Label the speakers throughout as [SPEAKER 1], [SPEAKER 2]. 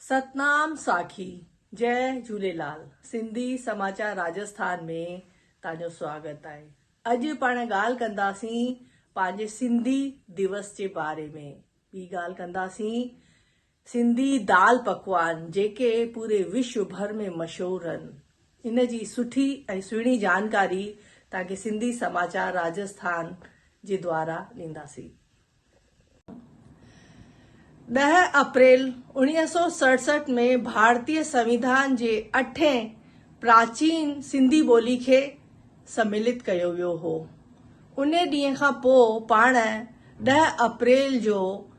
[SPEAKER 1] ستنام ساکي جئ جھوليلال سنڌي سماچار راجسٿان ۾ تانجو سواگت آهي اڄ پاڻ ڳالھ ڪنداسين پنهنجي سنڌي ديوس جي باري ۾ ٻي ڳالھ ڪنداسين سنڌي دال پڪوان جيڪي پوري وشو ڀر ۾ مشهور هن ان جي سٺي ۽ سهڻي جانڪاري توهان کي سنڌي سماچار راجسٿان جي دوارا ڏينداسين. ڏهه اپريل اوڻيهه سؤ سڙسٺ ۾ ڀارتي سنويڌان جي اٺين پراچين سنڌي ٻولي کي سميلت ڪيو ويو هو. انهي ڏينهن کان پوء پاڻ ڏهه اپريل جو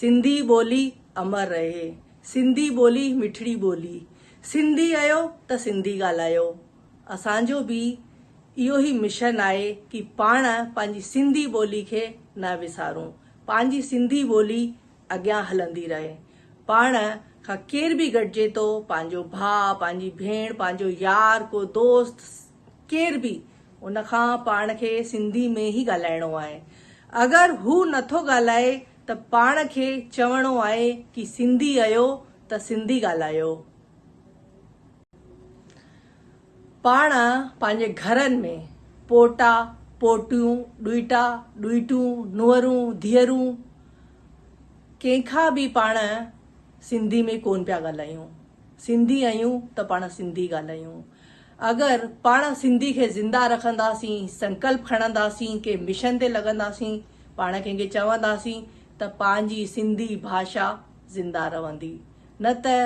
[SPEAKER 1] سنڌي ٻولي امر رهي سنڌي ٻولي مٺڙي ٻولي سنڌي اهيو ته سنڌي ڳالهايو اسان جو به اهيو هي مشن آهي ڪي پاڻ پنهنجي سنڌي ٻولي کي نه وسارون پنهنجي سنڌي ٻولي اڳيان هلندي رهي پاڻ کان ڪير به گڏجي ٿو پنهنجو ڀاء پنهنجي ڀيڻ پنهنجو يار ڪو دوست ڪير به ان کان پاڻ کي سنڌي ۾ ئي ڳالهائڻو آهي اگر هو نٿو ڳالهائي ته پاڻ کي چوڻو آهي ڪي سنڌي اهيو ته سنڌي ڳالهايو پاڻ پنهنجي گهرن ۾ پوٽا پوٽيون ڏوئٽا ڏوئٽون نوهرون ڌيئرون ڪنهن کان به پاڻ سنڌي ۾ ڪون پيا ڳالهايون سنڌي آهيون ته پاڻ سنڌي ڳالهايون اگر پاڻ سنڌي کي زنده رکنداسين، سنڪلپ کڻنداسين، ڪنهن مشن تي لڳنداسين، پاڻ ڪنهن کي چونداسين ته پنهنجي سنڌي ڀاشا زنده رهندي نه ته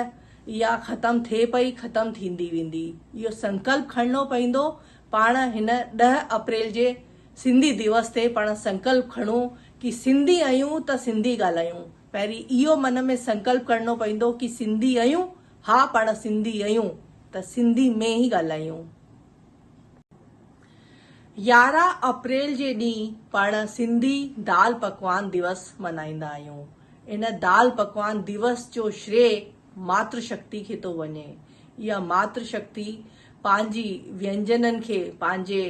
[SPEAKER 1] اها ختم ٿئي پئي ختم ٿيندي ويندي. اهو سنڪلپ کڻڻو پوندو. پاڻ هن ڏهه اپريل جي سنڌي ديوس تي پاڻ سنڪلپ کڻون ڪي سنڌي آهيون ته سنڌي ڳالهايون. پهرين اهو من ۾ سنڪلپ ڪرڻو پوندو ڪي سنڌي آهيون ها پاڻ سنڌي اهيون ته سنڌي ۾ ئي ڳالهايون. يارهن اپريل جي ڏينهن پاڻ سنڌي دال پڪوان ديوس ملهائيندا آهيون. ان دال پڪوان ديوس جو شري ماتر شڪتي کي ٿو وڃي. اها ماتر شڪتي پنهنجي وينجنن کي پنهنجي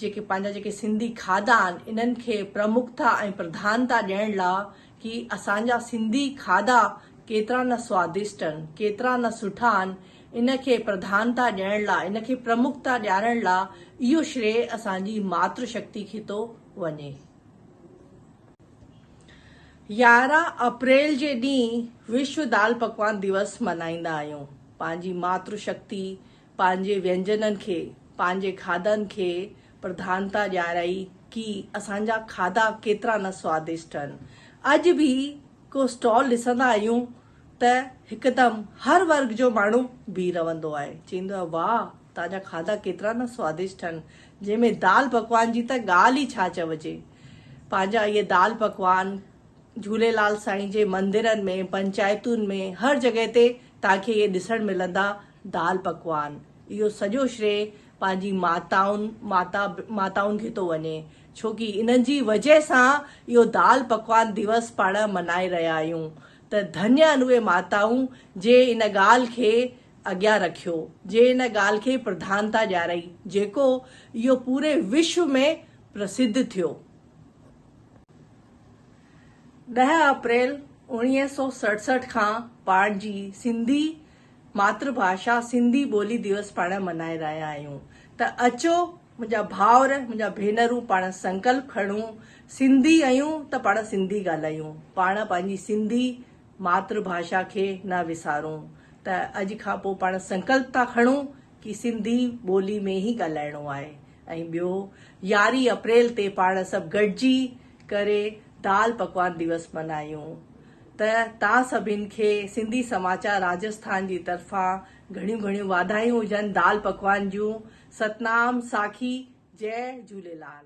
[SPEAKER 1] جيڪي پنهنجا جيڪي سنڌي کاڌا آهن انهن کي پرمکتا ۽ پرڌانتا ڏيڻ لاء ڪي اسان جا سنڌي کاڌا ڪيترا نه سوادشٽ ان، ڪيترا نه سٺا ان، ان کي پرڌانتا ڏيڻ لا، ان کي پرمکتا ڏيارڻ لا اهو شريء اسان جي ماتر شڪتي کي ٿو وڃي. يارهن اپريل جي ڏينهن وشو دال پڪوان ديوس ملهائيندا آهيون، پنهنجي ماتر شڪتي، پنهنجي وينجنن کي، پنهنجي کاڌن کي پرڌانتا ڏيارائي ڪي اسان جا کاڌا ڪيترا نه سوادشٽ هن. اڄ به ڪو اسٽال ڏسندا آهيون ته هڪدم هر ورگ جو ماڻهو بيهي رهندو آهي چئيندو آهي واهه تان جا کاڌا ڪيترا نه سوادشٽ هن جنهن ۾ دال پڪوان جي ته ڳالهه ئي ڇا چوجي پنهنجا اهي دال پڪوان جهوليلال سائين جي مندرن ۾ پنچائتن ۾ هر جڳهه تي تان کي اهي ڏسڻ ملندا دال پڪوان اهو سڄو شري پنهنجي ماتائن ماتا ماتائن کي ٿو وڃي ڇوڪي انهن جي وجهه سان اهو دال پڪوان ديوس پاڻ منائي رهيا آهيون ته ڌني آهن اهي ماتائون جي ان ڳالهه کي اڳيان رکيو جي ان ڳالهه کي پرڌانتا ڏيارئي جيڪو اهو پوري وشو ۾ پرسڌ ٿيو. ڏهه اپريل اوڻيهه سؤ سڙسٺ کان پاڻ جي سنڌي ماتر ڀاشا سنڌي ٻولي ديوس پاڻ منائي رهيا آهيون ته اچو منهنجا ڀائر منهنجا ڀينرون پاڻ سنڪلپ کڻون سنڌي اهيون ته پاڻ سنڌي ڳالهايون پاڻ پنهنجي سنڌي ماتر ڀاشا کي نه وسارون ته اڄ کان پو پاڻ سنڪلپ ٿا کڻون ڪي سنڌي ٻولي ۾ ئي ڳالهائڻو آهي ۽ ٻيو يارهين اپريل تي پاڻ سڀ گڏجي ڪري دال پڪوان ديوس منايون. ته تان سڀين کي سنڌي سماچار راجسٿان جي طرفان گهڻيون گهڻيون واڌايون هجن دال پڪوان جون ستنام ساکي جئه جهوليلال.